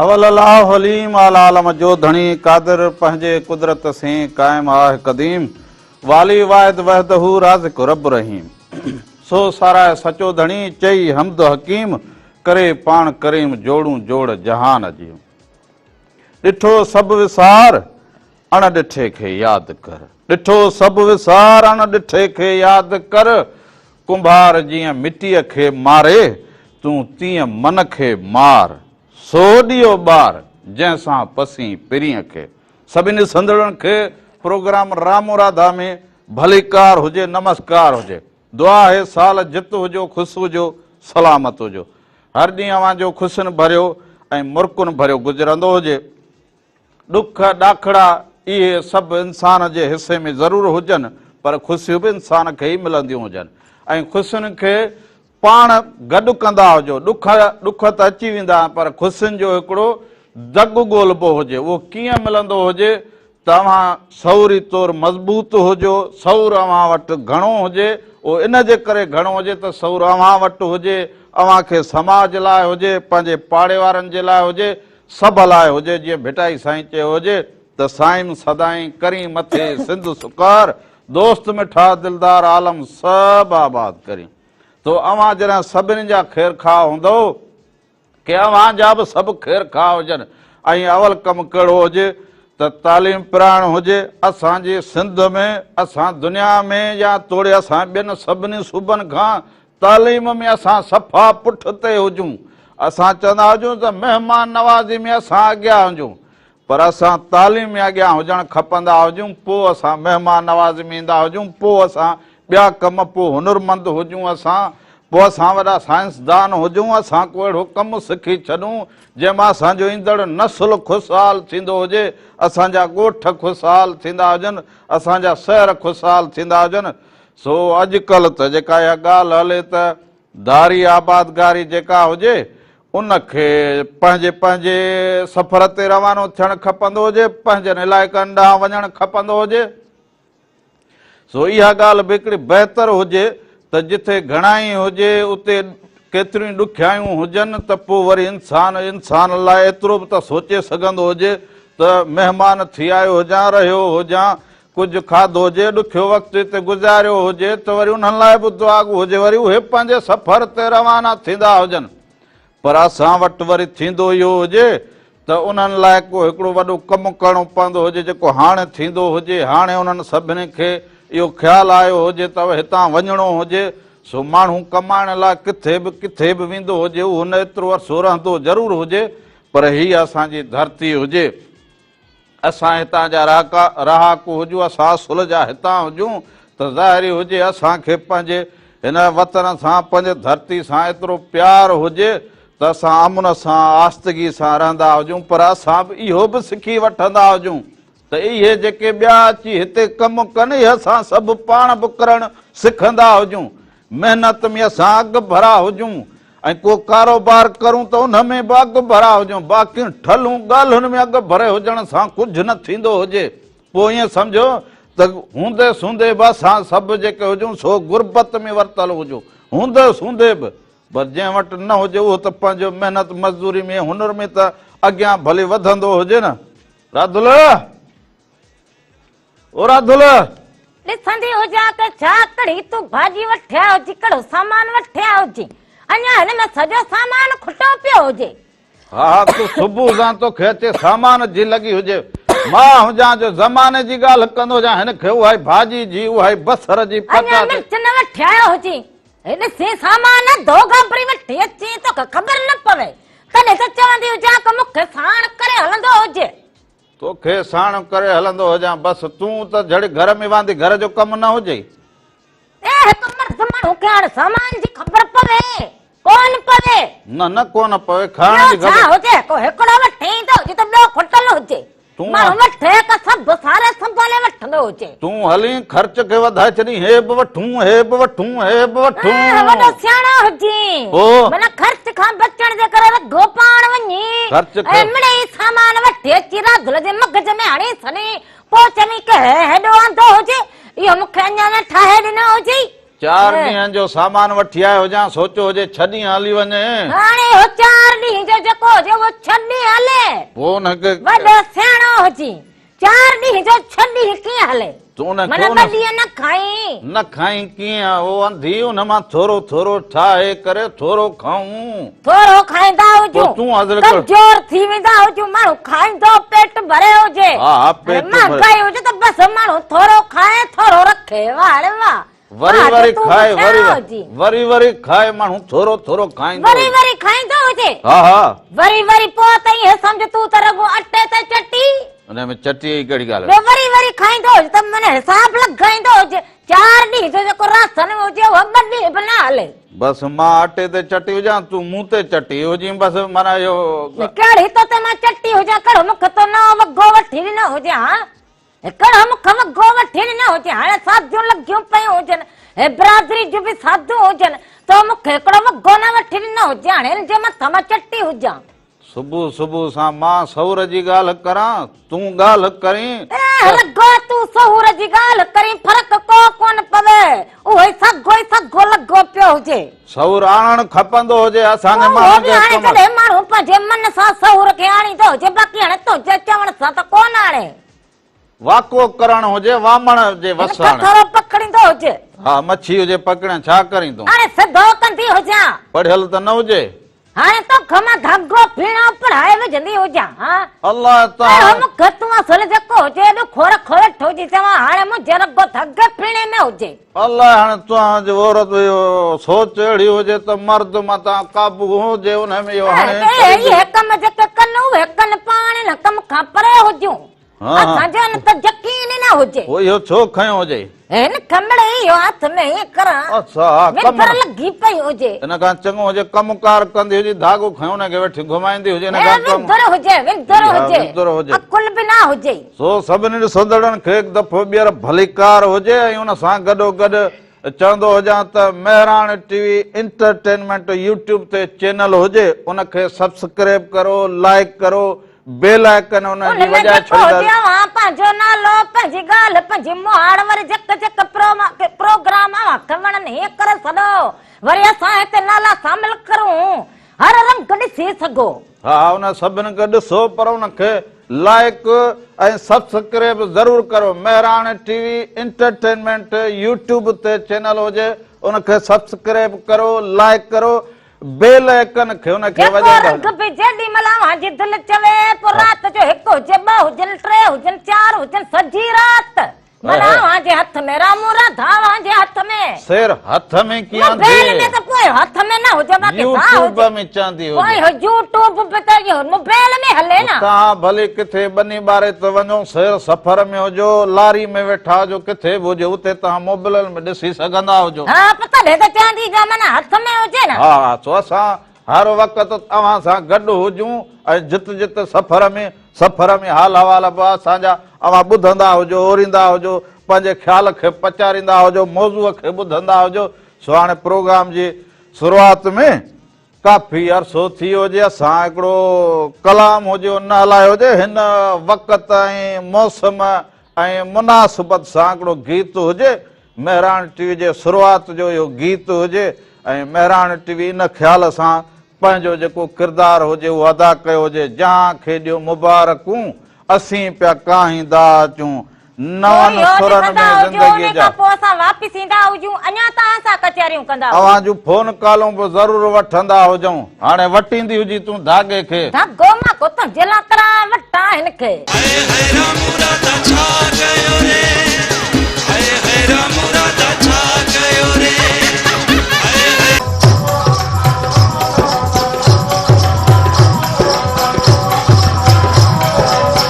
اول الاهو عليم العالم جو ڌڻي قادر پنهنجي قدرت سين قائم آهه قديم والي واحد وحده رازق رب رحيم سو ساراهه سچو ڌڻي چئي حمد حڪيم ڪري پاڻ ڪريم جوڙون جوڙ جهان جي ڏٺو سڀ وسار اڻ ڏٺي کي ياد ڪر. ڏٺو سڀ وسار اڻ ڏٺي کي ياد ڪر. ڪنڀار جيئن مٽيء کي ماري، تون تيئن من کي مار. سو ڏيئو ٻار، جنهن سان پسين پرينء کي. سڀني ڏسندڙن کي پروگرام رامو راڌا ۾ ڀليڪار هجي نمسڪار هجي. دعا آهي سال جت هجو خوس هجو سلامت هجو. هر ڏينهن اوهان جو خوشين ڀريو ۽ مرڪن ڀريو گذرندو هجي. ڏک ڏاکڙا اهي سڀ انسان جي حصي ۾ ضرور هجن پر خوشيون به انسان کي ئي ملنديون هجن ۽ خوشين کي پاڻ گڏ ڪندا هجو ڏک ڏک ته اچي ويندا آهن پر خوشين جو هڪڙو دڳ ڳولبو هجي اهو ڪيئن ملندو هجي ته اوهان سوري طور مضبوط هجو سور اوهان وٽ گهڻو هجي اهو ان جي ڪري گهڻو هجي ته سور اوهان وٽ هجي اوهان کي سماج لاء هجي پنهنجي پاڙي وارن جي لاء هجي سڀ لاء هجي جيئن ڀٽائي سائين چيو هجي ته سائين سدائين ڪرين مٿي سنڌ سڪار دوست مٺا دلدار عالم سڀ آباد ڪرين تو اوهان جڏهن سڀني جا خير خواهه هوندئو ڪي اوهان جا به سڀ خير خواهه هجن ۽ اول ڪم ڪهڙو هجي ته تعليم پرائڻ هجي اسان جي سنڌ ۾ اسان دنيا ۾ يا توڙي اسان ٻين سڀني صوبن کان تعليم ۾ اسان صفا پٺ تي هجون، اسان چوندا هجون ته مهمان نوازي ۾ اسان اڳيا هجون پر اسان تعليم ۾ اڳيان هجڻ کپندا هجون پوء اسان مهمان نوازي ۾ ايندا هجون پوء اسان ٻيا ڪم پوء هنرمند هجون اسان پوء اسان وڏا سائنسدان هجون اسان ڪو اهڙو ڪم سکي ڇڏون جنهن مان اسان جو ايندڙ نسل خوشحال ٿيندو هجي اسان جا ڳوٺ خوشحال ٿيندا هجن اسان جا شهر خوشحال ٿيندا هجن سو اڄڪلهه ته جيڪا اها ڳالهه هلي ته ڌاري آبادگاري جيڪا هجي ان کي پنهنجي پنهنجي سفر تي روانو ٿيڻ کپندو هجي، پنهنجن علائقن ڏانهن وڃڻ کپندو هجي. سو اها ڳالهه به هڪڙي بهتر هجي ته جتي گهڻائي هجي اتي ڪيتريون ئي ڏکيائيون هجن ته پوء وري انسان انسان لاء ايترو به ته سوچي سگهندو هجي ته مهمان ٿي آيو هجان، رهيو هجان ڪجهه کاڌو هجي، ڏکيو وقت هتي گذاريو هجي ته وري انهن لاء به دعاگو هجي، وري اهي پنهنجي سفر تي روانا ٿيندا هجن، پر اسان وٽ وري ٿيندو اهو هجي ته انهن لاء ڪو هڪڙو وڏو ڪم ڪرڻو پوندو هجي، جيڪو هاڻي ٿيندو هجي، هاڻي انهن سڀني کي اهو خيال آيو هجي ته هتان وڃڻو هجي، سو ماڻهو ڪمائڻ لاء ڪٿي به ڪٿي به ويندو هجي، اهو نه ايترو عرصو رهندو ضرور هجي، پر هيء اسان جي ڌرتي هجي. اسان هتان جا رهاڪا رهاڪو هجون اسان اصل جا هتان هجون ته ظاهر ئي هجي اسان کي پنهنجي هن وطن سان پنهنجي ڌرتي سان ايترو پيار هجي ته اسان امن سان آستگي سان رهندا هجون پر اسان به اهو به سکي وٺندا هجون ته اهي جيڪي ٻيا اچي هتي ڪم ڪن اهي اسان سڀ پاڻ به ڪرڻ سکندا هجون محنت ۾ اسان اڳ ڀرا هجون ۽ ڪو ڪاروبار ڪرون ته ان ۾ به اڳ ڀرا هجون باقي ٺلهون ڳالهين ۾ اڳ ڀري هجڻ سان ڪجهه نه ٿيندو هجي پوء ائين سمجهو ته هوندي سوندي به اسان سڀ جيڪي هجون سو غربت ۾ ورتل هجون هوندي سوندي به پر جنهن وٽ نه هجي اهو ته پنهنجو محنت مزدوري ۾ هنر ۾ ته اڳيان ڀلي وڌندو هجي نه راڌل اورا دل ڏسندي هجان ته ڇا ڪڙي تون ڀاڄي وٺيا هجي ڪڙو سامان وٺيا هجي اڃا هن ۾ سڄو سامان کٽو پيو هجي ها ها تو صبح سان تو کي اچي سامان جي لڳي هجي مان هجان جو زماني جي ڳالهه ڪندو هجان هن کي اهائي ڀاڄي جي اهائي بصر جي پتا اڃا مرچ نه وٺيا هجي هن سي سامان دو گابري وٺي اچي تو کي خبر نه پوي تڏهن ته چوندي هجان ته مون کي ساڻ ڪري هلندو هجي توکي ساڻ ڪري هلندو هجان بس تون ته جھڙي گھر ۾ واندي گھر جو ڪم نه هجئي. اي هڪ مرد ماڻهو کي هاڻ سامان جي خبر پوي ڪون پوي. نه نه ڪون پوي کائڻ جي خبر. ٻيو ڇا هجي ڪو هڪڙو وٺي ايندو هجي ته ٻيو کٽل هجي ماڻهو وٺي ڪا سڀ ساري سنڀالي وٺندو هجي. تون هلين خرچ کي وڌائي ڇڏين هي به وٺون هي به وٺون هي به وٺون ها وڏو سياڻو هجين پو منا خرچ کان بچڻ جي ڪري رگهو پاڻ وڃي خرچ کي ۽ مڙئي سامان وٺي اچي راڌل جي مغز ۾ هڻي سني پو چوين ڪه هي هيڏو آندو هجي اهو مون کي اڃا نه ٺاهي ڏنو هجي چار ڏينهن جو سامان وٺي آيو هجان سوچو هجي ڇهه ڏينهن هلي وڃي هاڻي اهو چار ڏينهن جو جيڪو هجي اهو ڇهه ڏينهن هلي پو ان کي وڏو سياڻو هجين چار ڏينهن جو ڇهه ڏينهن ڪيئن هلي؟ معنيٰ ٻه ڏينهن نه کائين؟ نه کائين ڪيئن او انڌي ان مان ٿورو ٿورو ٺاهي ڪري ٿورو کائون. ٿورو کائيندا هجون ڪمزور ٿي ويندا هجون ماڻهو کائيندو پيٽ ڀري هجي. مهانگائي هجي ته بس ماڻهو ٿورو کائي ٿورو رکي واهه ڙي واهه. وري وري کائي وري وري وري کائي ماڻهو ٿورو ٿورو کائيندو وري وري کائيندو هجي ها ها وري وري پو تئي هي سمجھ تو ته رڳو اٽي تي چٽي ان ۾ چٽي ئي ڪهڙي ڳالهه ٻيو وري وري کائيندو هجي ته من حساب لڳائيندو هجي چار ڏينهن جو جيڪو راسن ۾ هجي اهو ٻه ڏينهن به نه هلي بس مان اٽي تي چٽي هجان تون مون تي چٽي هجين بس مانا اهو ڪهڙي تو تي مان چٽي هجان ڪهڙو مون کي تو نو وڳو وٺي ڏنو هجي ها هڪڙ هم کم گو وٺين نه هجي هاڻي ساڌيون لڳيون پيون هجن هي برادري جون به ساڌو هجن تو مون کي هڪڙو به گو نه وٺين نه هجي هاڻي هن جي مٿان مان چٽي هجان. صبح صبح سان مان سحور جي ڳالهه ڪران تون ڳالهه ڪرين ته. اهه رڳو تون سحور جي ڳالهه ڪرين فرق ڪو ڪونه پوي اهو ئي سگهو ئي سگهو لڳو پيو هجي. سهور آڻڻ کپندو هجي اسان جي ماڻهن کي. اهو به آڻي ڇڏي ماڻهو پنهنجي من سان سهور کي آڻيندو هجي باقي هاڻي تنهنجي چوڻ سان ته ڪونه آڻي. واڪو ڪرڻ هجي وامڻ جي وس هاڻي. هن کٿرو پڪڙيندو هجي. ها مڇي هجي پڪڙيان ڇا ڪريندون. هاڻي سڌو ڪندي هجان. پڙهيل ته نه هجي. هاڻي توکان مان ڌاڳو پيڻو پڙهائي وجهندي هجان ها الله تعالي اهڙو مونکي تون اصل جيڪو هجي ايڏو کور کور ويٺو جي چوان هاڻي منهنجي رڳو ڌاڳي پيڻي ۾ هجي الله هاڻي توهان جي عورت اهو سوچ اهڙي هجي ته مرد متان قابو هجي انهي ۾ اهو هاڻي اهي هڪ م جيڪي ڪن اهي ڪن پاڻ هن ڪم کان پري هجون اسان جو ان ته يقين ئي نه هجي هو اهو ڇو کنيو هجي هن کمڙي اهو هٿ ۾ ائين ڪران ۾ پر لڳي پئي هجي ان کان چڱو هجي ڪم ڪار ڪندي هجي ڌاڳو کنيو نه کي وٺي گهمائيندي هجي نه کان ڪم وندر هجي وندر هجي وندر هجي عقل به نه هجي سو سڀني ڏسندڙن کي هڪ دفعو ٻيهر ڀليڪار هجي ۽ ان سان گڏو گڏ چوندو هجان ته Mehran T V entertainment YouTube تي چينل هجي ان کي سبسڪريب ڪرو لائڪ ڪرو بي لائق ڪن ان جي وجا ڇڙيندار. ان ڊپو اوهان پنهنجو نالو پنهنجي ڳالهه پنهنجي مهاڙ وري جڪ جڪ پروگرام اوهان کي وڻن هي ڪري سڏو وري اسان هتي نالا سامل ڪرون هر رنگ ڏسي سگهو. ها ان سڀن کي ڏسو پر ان کي لائق ۽ سبسڪريب ضرور ڪرو Mehran T V entertainment YouTube تي چينل هجي ان کي سبسڪريب ڪرو لائق ڪرو بيل ۽ ڪن کي ان کي وڄائيندا هئا. جيڪو رنگ به جيڏي مهل اوهان جي دل چوي، پوء رات جو هڪ هجي، ٻه هجن، ٽي هجن، چار هجن، سڄي رات مهل اوهان جي هٿ ۾، رامون راڌا اوهان جي هٿ ۾. سير هٿ ۾ ڪيئن آندي؟ موبيل ۾ ته پوء هٿ ۾ نه هجي، باقي ساهه هجي. يوٽيوب ۾ چاندي هجي. پوء اهو يوٽيوب به ته اهو موبيل ۾ هلي نه. توهان ڀلي ڪٿي ٻني ٻاري ته وڃو، سير سفر ۾ هجو، لاري ۾ ويٺا هجو، ڪٿي به هجو، اتي توهان موبيل. ڏسي سگهندا هجو. ها پت ڀيڳو چاندي جو امن هٿ ۾ هجي نه. ها ها سو اسان هر وقت اوهان سان گڏ هجون ۽ جت جت سفر ۾ سفر ۾ حال احوال به اسان جا اوهان ٻڌندا هجو اوريندا هجو پنهنجي خيال کي پچاريندا هجو موضوع کي ٻڌندا هجو سو هاڻي پروگرام جي شروعات ۾ ڪافي عرصو ٿي ويو جي اسان هڪڙو ڪلام هجيو نه هلايو هجي هن وقت ۽ موسم ۽ مناسبت سان هڪڙو گيت هجي مهراڻ ٽي وي جي شروعات جو اهو گيت هجي ۽ مهراڻ ٽي وي ان خيال سان پنهنجو جيڪو ڪردار هجي اهو ادا ڪيو هجي جهان کي ڏيو مبارڪون اسين پيا ڪاهيندا اچون پوء نون يوٽ سرن ڪندا ۾ هجو، زندگيء ان جا. کان پوء اسان واپس ايندا هجون، اڃا توهان سان ڪچهريون ڪندا هجون. اوهان جون فون ڪالون به ضرور وٺندا هجون. هاڻي وٽيندي هجين تون ڌاڳي کي. ڌاڳو مان ڪوتن جي لاء ڪرائي وٺان هن کي. هائي هائي رامورادا ڇا ڪيو ري. هائي هائي رامورادا ڇا ڪيو ري. هائي هائي.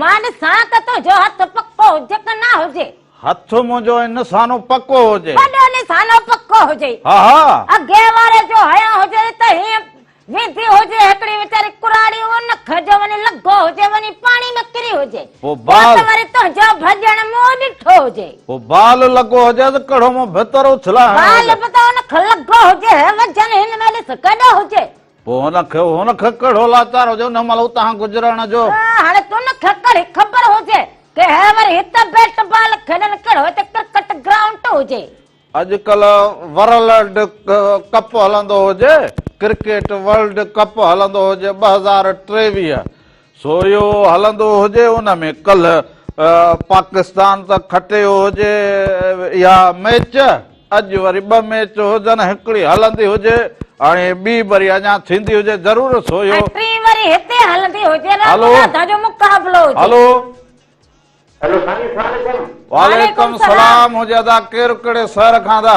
مان ڏسان ته تنهنجو هٿ پڪو هجي ڪه نه هجي. هٿ منهنجو ۽ نسانو پڪو هجي. وڏو نسانو پڪو هجي. ها ها. اڳئين واري جو هنيو هجي ته هيئن ويندي هجي هڪڙي ويچاري ڪراڙي اهو نک جو وڃي لڳو هجي وڃي پاڻي ۾ ڪري هجي. پوء ته وري تنهنجو ڀڄڻ منهن ڏٺو هجي. پوء بال لڳو هجيس ڪڙهو منهن ڀتر اڇلاء هڻيو هجي. بال به ته ان کي لڳو هجي هي وجهن هن ۾ ڏس ڪيڏو هجي. پوء هن کي هن کي ڪهڙو لاچار هجي ان مهل اتان گذرڻ جو. هاڻي تون کي ڪهڙي خبر هجي ڪي هي وري هت بيٽ بال کيڏن ڪهڙو هتي ڪرڪٽ گرائونٽ هجي. اڄڪلهه ورلڊ ڪپ هلندو هجي ڪرڪيٽ ورلڊ ڪپ هلندو هجي ٻه هزار ٽيويهه سو اهو هلندو هجي ان ۾ ڪلهه پاڪستان ته کٽيو هجي اها ميچ اڄ وري ٻه ميچ هجن هڪڙي هلندي هجي هاڻي ٻي وري اڃا ٿيندي هجي ضرور سو اهو ٽين وري هتي هلندي هجي نه منادا جو مقابلو هجي هلو هلو سائين السلام عليڪم وعليڪم السلام هجي ادا ڪير ڪهڙي شهر کان ادا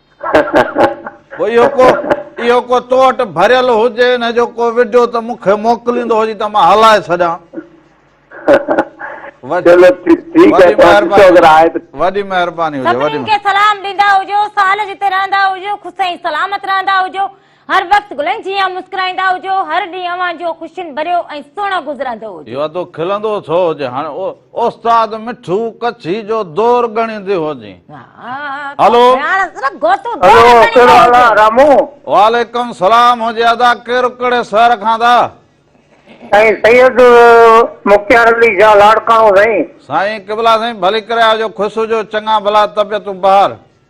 پوء اهو ڪو اهو ڪو تو وٽ ڀريل هجي ان جو ڪو وڊيو ته مون کي موڪليندو هجي ته مان هلائي ڇڏيان وڏي مهرباني هجي سلام ڏيندا هجو سال جتي رهندا هجو خوش ۽ سلامت رهندا هجو هر وقت گلن جيان مسڪرائيندا هجو، هر ڏينهن اوهان جو خوشين ڀريو ۽ سهڻو گذرندو هجي. اهو ادو کلندو ٿو هجي هاڻي او استاد مٺو ڪڇي جو دور ڳڻيندي هجي. هلو. هاڻ صرف گوتو دور هلو ڳڻيندو ڪهڙو حال آ هجي. رامو. وعليڪم سلام هجي ادا ڪير ڪهڙي شهر کان ٿا. سائين سيد مختيار علي شاھ لاڙڪاڻو سائين. سائين قبلا سائين ڀلي ڪري آجو خوش هجو چڱا ڀلا طبيعتون بهار.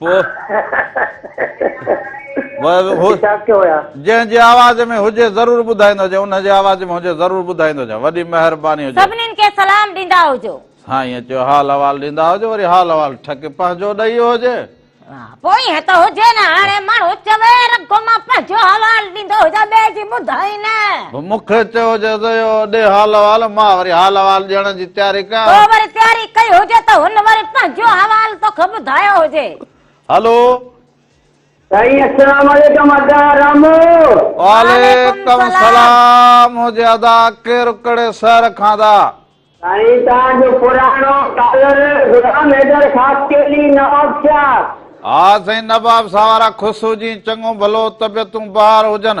پوء جنهن جي آواز ۾ هجي ضرور ٻڌائيندو هجي ان جي آواز ۾ هجي ضرور ٻڌائيندو هجان وڏي مهرباني هجي سڀنين کي سلام ڏيندا هجو سائين چيو حال احوال ڏيندا هجو وري حال احوال ٺڪ پنهنجو ڏئي ويو هجي پوء ائين ته هجي نه هاڻي ماڻهو چوي رڳو مان پنهنجو حوال ڏيندو هجان ٻئي جي ٻڌائين نه مون کي چئو جو اهو ڏي حال احوال، مان وري حال احوال ڏيڻ جي تياري ڪيان. تو وري تياري ڪئي هجي ته هن وري پنهنجو حوال توکي ٻڌايو هجي. هلو. سائين اسلام عليڪم ادا رامو. وعليڪم سلام هجي ادا ڪير ڪھڙي شهر کان ادا. سائين تان جو پراڻو ڪالر غلام حيدر خاصخيلي نواب شاھ. ها سائين نواب شاھ وارا خوش هجين چڱو ڀلو طبيعتون بحار هجن.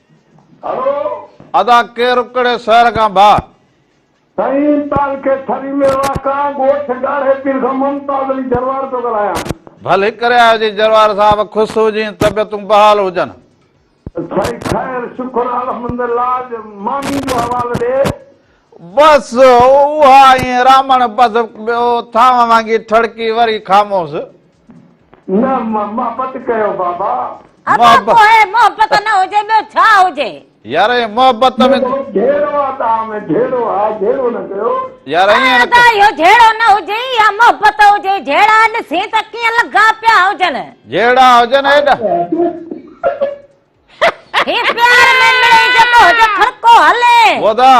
ادا ڪير ڪھڙي شهر کان ڀاء. سائين تعلقي ٿري ۾ واقع ڳوٺ ڳاڙهي پير کان ممتاز علي جروار پيو ڳالهايان. ڀلي ڪري آيو جي جروار صاحب خوش هجين طبيعتون بحال هجن. سائين خير شڪر الحمدالله اڄ ماني جو حوال ڏي. بس اها ائين رامڻ بس ٻيو ٿانو وانگي ٺڙڪي وري خاموس. نه محبت ڪيو بابا. ابا پوء محبت نه هجي ٻيو ڇا هجي. يار اهي محبت ۾. جهيڙو آ تان ۾ جهيڙو آ جهيڙو نه ڪيو. يار ائين نه ڪيو. ادا اهو جهيڙو نه هجي يا محبت هجي جهيڙا ڏسين ته ڪيئن لڳا پيا هجن. جهيڙا هجن ايڏا. هي پيار ۾ مڙئي جيڪو هجي ڦرڪو هلين. ودا.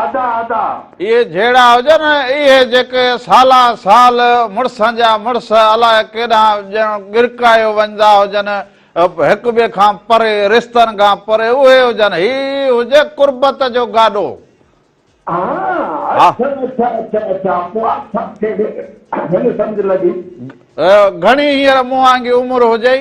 ادا ادا. اهي جهيڙا هجن اهي جيڪي سالان سال مڙسن جا مڙس الاء ڪيڏانهن ڄڻ ڳرڪايو وڃدا هجن هڪ ٻئي کان پري رشتن کان پري اهي هجن هي هجي قربت جو گاڏو ها گهڻي هينئر مون وانگي عمر هجئي.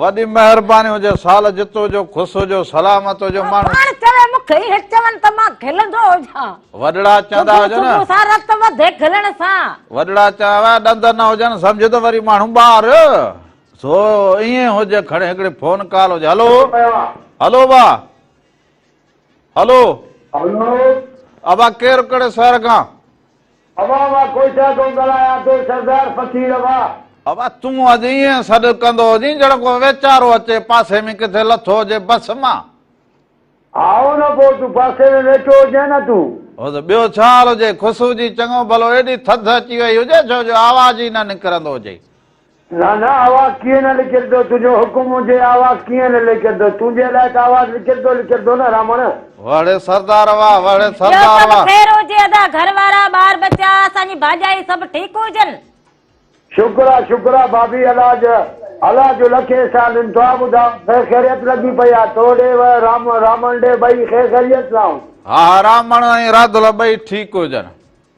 وڏي مهرباني هجي سال جت هجو خوش هجو سلامت هجو ماڻهو پاڻ چوي مون کي هي چون ته مان کلندو هجان وڏڙا چوندا هجن صبح سان رت وڌي کلڻ سان وڏڙا چوندا ڏند نه هجن سمجهه ته وري ماڻهو ٻار سو ائين هج کڻي هڪڙي فون ڪال هج هلو هلو با هلو هلو ابا ڪير ڪڙي سهر کان ابا ابا ڪوئيٽا کان ڳالهايان ٿو سردار فقير ابا ابا تون اڄ ائين سڏ ڪندو هجين ڄڻ ڪو ويچارو اچي پاسي ۾ ڪٿي لٿو هجي بس مان آئون نه پوء تون پاسي ۾ ويٺو هجين نه تون هو ته ٻيو ڇا حال هجي خوشبو جي چڱو ڀلو ايڏي ٿڌ اچي وئي هجي ڇو جو آواز ئي نه نڪرندو هجي لانا آواز ڪيئن نه لکيردو تنهنجو حڪم هجي آواز ڪيئن نه لکيردو تنهنجي لاء ته آواز لکيردو لکيردو نه رامڻ. وڙهي سردار واھ وڙهي ٻيو سردار سڀ واھ. خير هجي ادا گهر وارا ٻار ٻچا اسان جي ڀاڄائي سڀ ٺيڪ هجن. شڪر آ شڪر آ بابي الله جو الله جو لک احسان ان تون ٻڌاء خير خيريت لڳي پئي آ تو ڏي و رامڻ ڏي ٻئي خير خيريت سان هن. ها ها رامڻ ۽ راڌل ٻئي ٺيڪ هجن.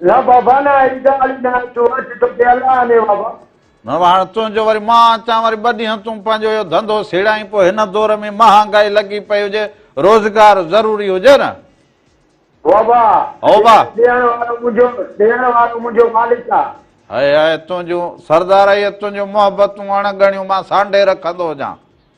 نه بابا نه اهڙي ڳالهه ئي ناهي تون اچ توکي الله آني بابا. نه هاڻ تنهنجو وري مان اچان وري ٻه ڏينهن تون پنهنجو اهو ڌنڌو سيڙائين پوء هن دور ۾ مهانگائي لڳي پئي هجي روزگار ضروري هجي نه. بابا هوبا. ڏيڻ وارو منهنجو ڏيڻ وارو منهنجو مالڪ آ. هاء هاء تنهنجون سردارائيء تنهنجون محبتون اڻ ڳڻيون مان سانڍي رکندو هجان.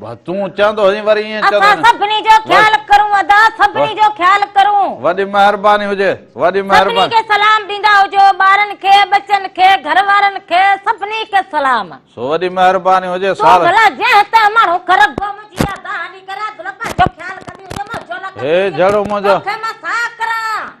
بس تون چوندو هجين وري ائين چوندو اسان سڀني جو خيال ڪرون ادا سڀني جو خيال ڪرون. وڏي مهرباني هجي وڏي مهرباني. سڀني کي سلام ڏيندا هجو ٻارن کي ٻچن کي گهر وارن کي سڀني کي سلام. سو وڏي مهرباني هجي سال. تو ڀلا جنهن تنهن ماڻهو کر گم جي ادا هلي ڪري عبدالله پنهنجو خيال ڪندي هجي منهنجو نه ڪندي هجي توکي مان ساهه ڪران.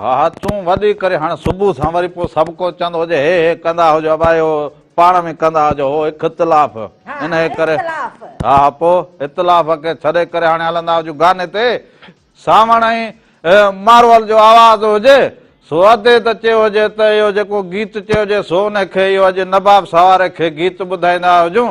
ها ها تون وڏي ڪري هاڻ صبح سان وري پوء سڀ ڪو چوندو هجي هي هي ڪندا هجو ابايو پاڻ ۾ ڪندا هجو هو اختلاف انهي ڪري ها ها پوء اختلاف کي ڇڏي ڪري هاڻي هلندا هجون گاني تي ساوڻ ۽ مارول جو آواز هجي سو ادي ته چيو هجي ته اهو جيڪو گيت چيو هجي سو انهي کي اهو اڄ نباب سواري کي گيت ٻڌائيندا هجون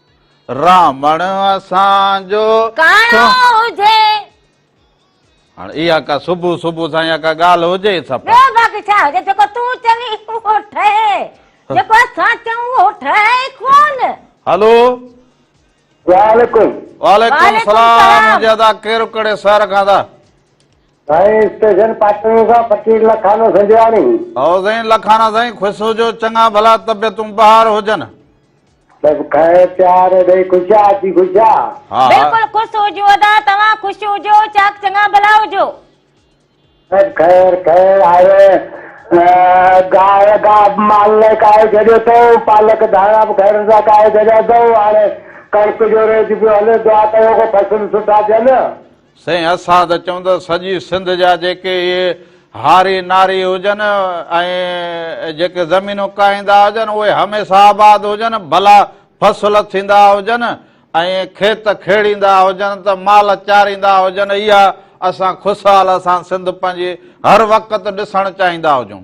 رامڻ اسان جو ڪاڻو هجي. هاڻ اها ڪا صبح صبح سان يا ڪا ڳالهه هجي سپا. ٻيو باقي ڇا هجي جيڪو تون چوين اهو ٺهي جيڪو اسان چئون اهو ٺهي ئي ڪون. هلو. سلام عليڪم. وعليڪم السلام منهنجي ادا ڪير ڪهڙي شهر کان ادا. سائين اسٽيشن پاٽڻ کان فقير لکانو سنجراڻي. هو سائين لکانا سائين خوش هجو چڱا ڀلا طبيعتون بهار هجن. بس کائي پيار ڏئي خوش آ اچي خوش آ. ها ها. بلڪل خوش هجون ادا توهان خوش هجو چاڪ چڱا ڀلا هجو. بس خير خير آهي گاهه گاهه به مال لاء ڪاهي ڇڏيو اٿئون پالڪ ڌاڻا به خيرن سان ڪاهي ڇڏيا اٿئون هاڻي ڪڻڪ جو ريچ پيو هلي دعا ڪيو ڪو فصل سٺا ٿين. سائين اسان ته چئون ته سڄي سنڌ جا جيڪي اهي هاري ناري هجن ۽ جيڪي زمينون ڪاهيندا هجن اهي هميشه آباد هجن ڀلا فصل ٿيندا هجن ۽ کيت کيڙيندا هجن ته مال چاريندا هجن اها اسان خوشحال اسان سنڌ پنهنجي هر وقت ڏسڻ چاهيندا هجون.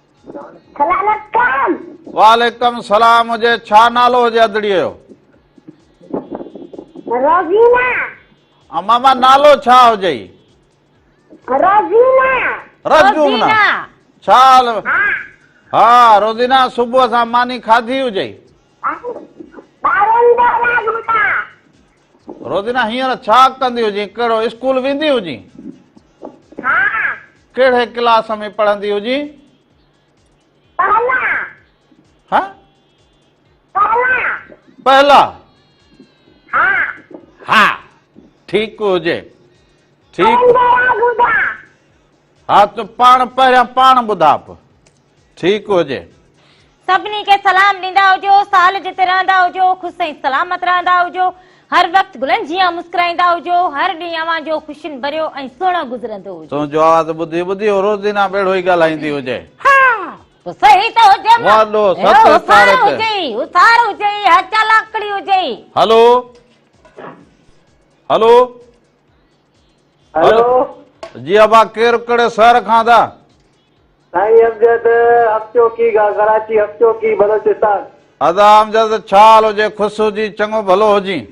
سلام علیکم وعليڪم سلام هجي ڇا نالو هجي ادڙي جو روزينا ها ماما نالو ڇا هجي روزينا روزينا ڇا حال ها روزينا صبح سان ماني کاڌي هجي ٻارن جو لاڳ ٻڌا روزينا هينئر ڇا ڪندي هجين ڪهڙو اسڪول ويندي هجين ها ڪهڙي ڪلاس ۾ پڙهندي هجين پهلا ها پهلا پهلا ها ها ٺيڪ هجي ٺيڪ ها تو پاڻ پهريان پاڻ ٻڌاپ ٺيڪ هجي. سڀني کي سلام ڏيندا هجو سال جتي رهندا هجو خوش ۽ سلامت رهندا هجو هر وقت گلن جيان مسڪرائيندا هجو هر ڏينهن اوهان جو خوشين ڀريو ۽ سهڻو گذرندو هجي. تون جو آواز ٻڌي ٻڌي هو روزينا ٻيڙو ئي ڳالهائيندي هجي. ها تو صحيح ٿو هجي مان وڏو ست اهو هوسار ڪارت. هجي هوسار هجي ها چالاڪڙي هجي. هلو هلو هلو جي ابا ڪير ڪهڙي شهر کان ٿا. سائين امجد حق چوڪي کان ڪراچي حق چوڪي بلوچستان. ادا امجد ڇا حال هجي خوس هجين چڱو ڀلو هجين.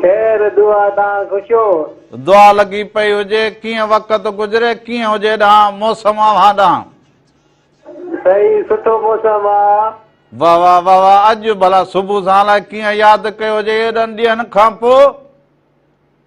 خير دعا تان خوش هو. دعا لڳي پئي هجي ڪيئن وقت گذري ڪيئن هجي ڏانهن موسم اوهان ڏانهن. سائين سٺو موسم آ. واه واه واه واه اڄ ڀلا صبح سان الائي ڪيئن ياد ڪيو هجي ايڏن ڏينهن کان پو.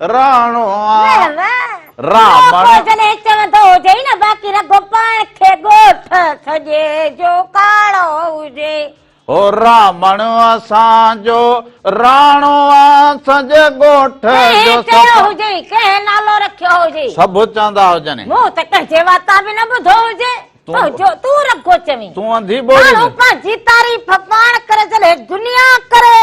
راڻو آ رامڻ جڏهن چوندو هجي نه باقي رڳو پاڻ کي ڳوٺ سڄي جو ڪاڙو هجي هو رامڻ اسان جو راڻو آ سڄي ڳوٺ جو چيو هجي ڪنهن نالو رکيو هجي سڀ چوندا هجن مون ته ڪنهن جي واتا به نه ٻڌو هجي جو تون رڳو چوين تون انڌي ٻولي ماڻهو پنهنجي تعريف پاڻ ڪري جڏهن دنيا ڪري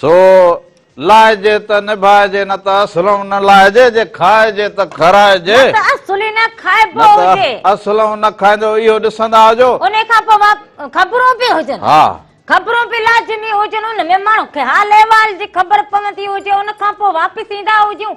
سو لائجي ته نڀائجي، نه ته اسلم نه لائجي، جي کائجي ته کارائجي. نه ته اسلم نه کائبو هجي. نه ته اسلم نه کائيندو، اهو ڏسندا هجو. انهي کان پوء خبرون پي هجن. ها. خبرون پي لازمي هجن، ان ۾ ماڻهن کي حال احوال جي خبر پوندي هجي، ان کان پوء واپس ايندا هجون.